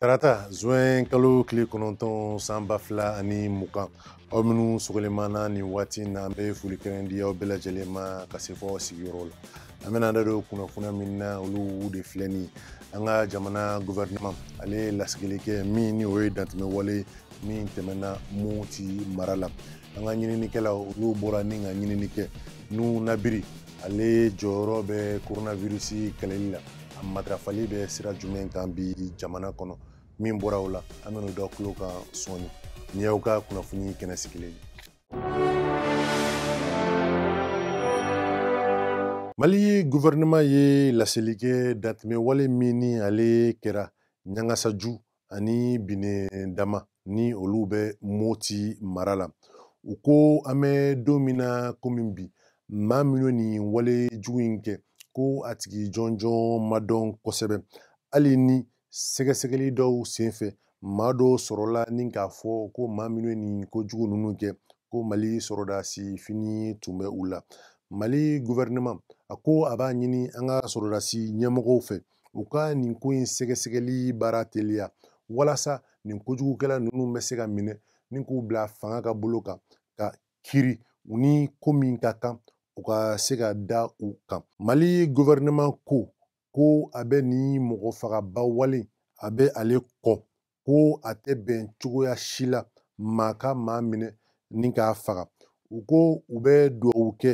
Tarata zuwɛn kalo tile kɔnɔntɔn san ba fila ani mugan aw minnu sɔgɔlen b'an na nin waati na an bɛ foli kɛrɛn di aw bɛɛ lajɛlen ma ka se fɔ aw sigiyɔrɔ la an bɛna da don kunnafoniya min na olu de filɛ nin an ka jamana gouvernement ale ye lasigili kɛ min ni o ye dantɛmɛ wale min tɛmɛna moti mara la an ka ɲininikɛlaw olu bɔra ni ka ɲinini kɛ nunnabiri ale jɔyɔrɔ bɛ coronavirus kɛlɛli la a matarafali bɛ sira jumɛn kan bi jamana kɔnɔ min bɔra o la an bɛna o d'aw tulo kan sɔɔni nin y'aw ka kunnafoni kɛnɛ sigilen ye mali guvɛrɛnɛman ye laseli kɛ dantɛmɛ wale min ni ale kɛra ɲangasaju ani binedama ni olu bɛ moti mara la u ko an bɛ don min na komi bi maa minnu nin wale jugu in kɛ ko a tigi jɔnjɔn ma dɔn kosɛbɛ hali ni sɛgɛsɛgɛli dɔw senfɛ maa dɔw sɔrɔla ni k'a fɔ ko maa minnu nin ko jugu ninnu kɛ ko mali sɔrɔdasi fini tun bɛ u la mali gouvernement a ko a b'a ɲini an ka sɔrɔdasi ɲɛmɔgɔw fɛ u ka nin ko in sɛgɛsɛgɛli baara teliya walasa nin kojugukɛla ninnu bɛ se ka minɛ ni k'u bila fanga ka bolo kan ka kiri u ni ko min ka kan u ka se ka da u kan mali gɔfɛrɛnaman ko ko a bɛ nin mɔgɔ fagaba wale a bɛ ale kɔn ko a tɛ bɛn cogoya si la maa ka maa minɛ ni k'a faga u ko u bɛ dugawu kɛ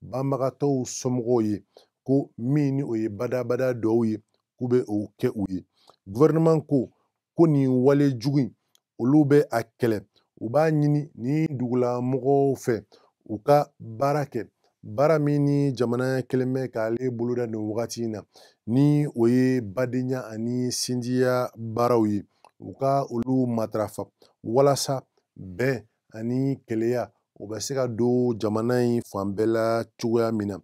banbagatɔw somɔgɔw ye ko min ni o ye badabada dugawu ye k'u bɛ o kɛ u ye gouvernement ko ko nin wale jugu in olu bɛ a kɛlɛ u b'a ɲini ni dugulamɔgɔw fɛ u ka baara kɛ baara min ni jamana kɛlen bɛ k'ale boloda nin wagati in na ni o ye badenya ani sinjiya baaraw ye u ka olu matarafa walasa bɛn ani kelenya o bɛ se ka don jamana in fan bɛɛ la cogoya min na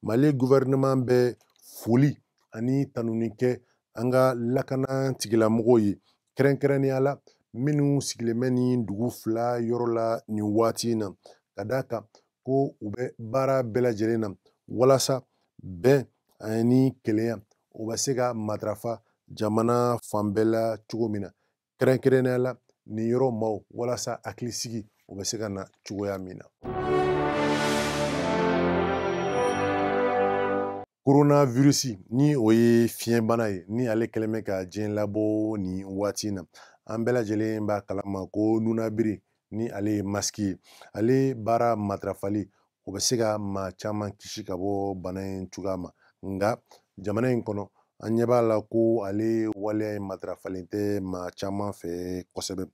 mali gouvernement bɛ foli ani tanuni kɛ an ka lakana tigilamɔgɔw ye kɛrɛnkɛrɛnnenya la minnu sigilen bɛ nin dugu fila yɔrɔ la nin waati in na ka d'a kan ko u bɛ baara bɛɛ lajɛlen na walasa bɛn ani kelenya o bɛ se ka matarafa jamana fan bɛɛ la cogo min na kɛrɛnkɛrɛnnenya la nin yɔrɔ maaw walasa hakilisigi o bɛ se ka na cogoya min na coronavirus ni o ye fiɲɛbana ye ni ale kɛlen bɛ ka diɲɛ labɔ nin waati in na an bɛɛ lajɛlen b'a kalama ko nunabiri ni ale ye masiki ye ale baara matarafali o bɛ se ka maa caman kisi ka bɔ bana in cogoya ma nka jamana in kɔnɔ an ɲɛ b'a la ko ale waleya in matarafalen tɛ maa caman fɛ kosɛbɛ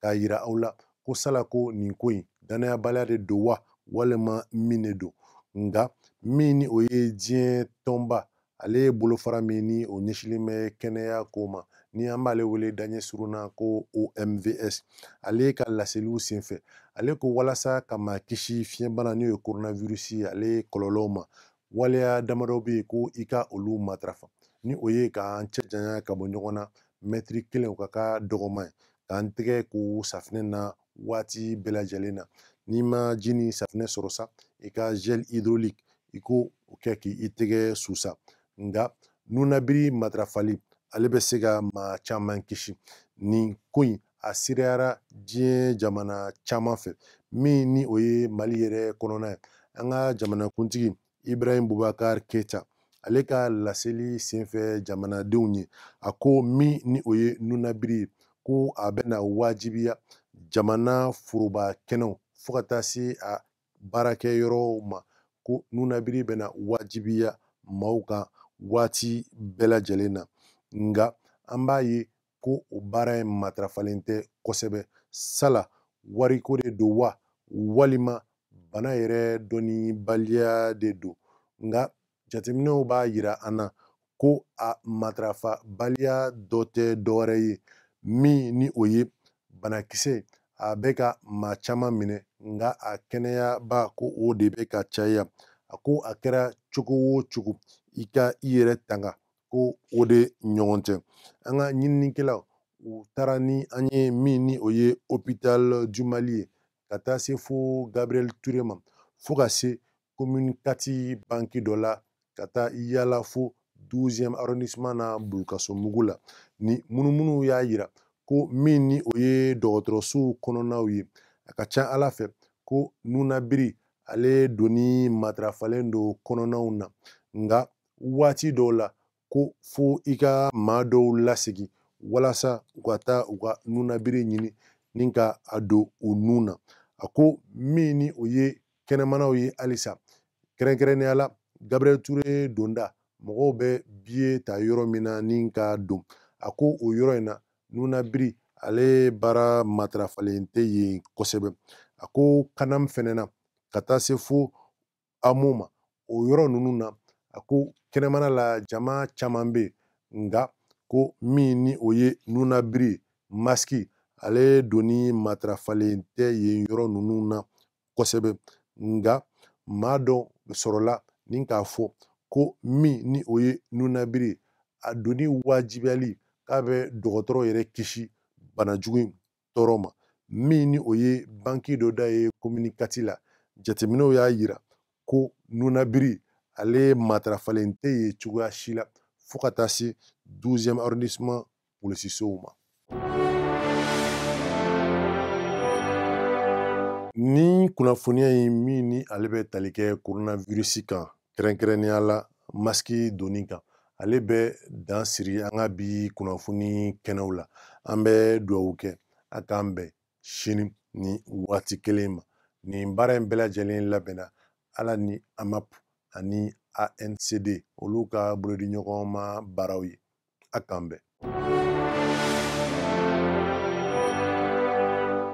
k'a yira aw la ko sala ko nin ko in dannayabaliya de don wa walima min de don nka min ni o ye diɲɛ tɔnba ale ye bolofara min ni o ɲɛsinlen bɛ kɛnɛya ko ma ni an b'ale wele daɲɛ surunna ko omvs ale ka laseliw senfɛ ale ko walasa ka maa kisi fiɲɛbana n'o ye coronavirus ye ale kɔlɔlɔw ma waleya damadɔ bɛ yen ko i ka olu matarafa ni o ye k'an cɛ janya ka bɔ ɲɔgɔn na mɛtiri kelen o ka k'a dɔgɔman ye k'an tɛgɛ ko safinɛ na waati bɛɛ lajɛlen na n'i ma ji ni safinɛ sɔrɔ sa i ka gel hydraulique i k'o kɛ k'i tɛgɛ susa nka nunabiri matarafali ale bɛ se ka maa caman kisi nin ko in a sereyara diɲɛ jamana caman fɛ min ni o ye mali yɛrɛ kɔnɔna ye an ka jamanakuntigi ibrahim bubakar keita ale ka laseli senfɛ jamanadenw ye a ko min ni o ye nunabiri ye ko a bɛna wajibiya jamana foroba kɛnɛw fo ka taa se a baarakɛyɔrɔw ma ko nunabiri bɛna wajibiya maaw kan waati bɛɛ lajɛlen na nka an b'a ye ko o baara in matarafalen tɛ kosɛbɛ sala wariko de don wa walima bana yɛrɛ dɔnnibaliya de don nka jateminɛw b'a yira an na ko a matarafabaliya dɔ tɛ dɔwɛrɛ ye min ni o ye banakisɛ a bɛ ka maa caman minɛ nka a kɛnɛyabaa ko o de bɛ ka caya a ko a kɛra cogo o cogo i ka i yɛrɛ tanga ko o de ɲɔgɔn tɛ an ka ɲininikɛlaw u taara ni an ye min ni o ye hôpital du mali ye ka taa se fo gabriel ture ma fo ka se commune 4 banki dɔ la ka taa yala fo 12e arrondissement na bulukasumbugu la nin munumunu y'a yira ko min ni o ye dɔgɔtɔrɔsow kɔnɔnaw ye a ka ca a la fɛ ko nunabiri ale donni matarafalen don kɔnɔnaw na nka waati dɔw la ko fo i ka maa dɔw lasegin walasa u ka taa u ka nunabiri ɲini ni k'a don u nun na a ko min ni o ye kɛnɛmanaw ye halisa kɛrɛnkɛrɛnnenya la gabriel ture donda mɔgɔw bɛ biye ta yɔrɔ min na ni ka don a ko o yɔrɔ in na nunabiri ale baara matarafalen tɛ yen kosɛbɛ a ko canam fɛnɛ na ka taa se fo amo ma o yɔrɔ ninnu na a ko kɛnɛmana la jama caman bɛ yen nka ko min ni o ye nunabiri masiki ale donni matarafalen tɛ yen yɔrɔ ninnu na kosɛbɛ nka maa dɔ sɔrɔla ni k'a fɔ ko min ni o ye nunabiri a donni wajibiyali k'a bɛ dɔgɔtɔrɔ yɛrɛ kisi bana jugu in tɔɔrɔ ma min ni o ye banki dɔ da ye komini kati la jateminɛw y'a yira ko nunabiri ale matarafalen tɛ yen cogoya si la fo ka taa se 12e arrondissement polisisow ma nin kunnafoniya in min ni ale bɛ tali kɛ koronavirisi kan kɛrɛnkɛrɛnnenya la masiki donni kan ale bɛ dan siri an ka bi kunnafoni kɛnɛw la an bɛ dugawu kɛ a k'an bɛn sini ni waati kelen ma nin baara in bɛɛ lajɛlen labɛnna ala ni amap ani ancd olu ka bolodiɲɔgɔnma baaraw ye a k'an bɛn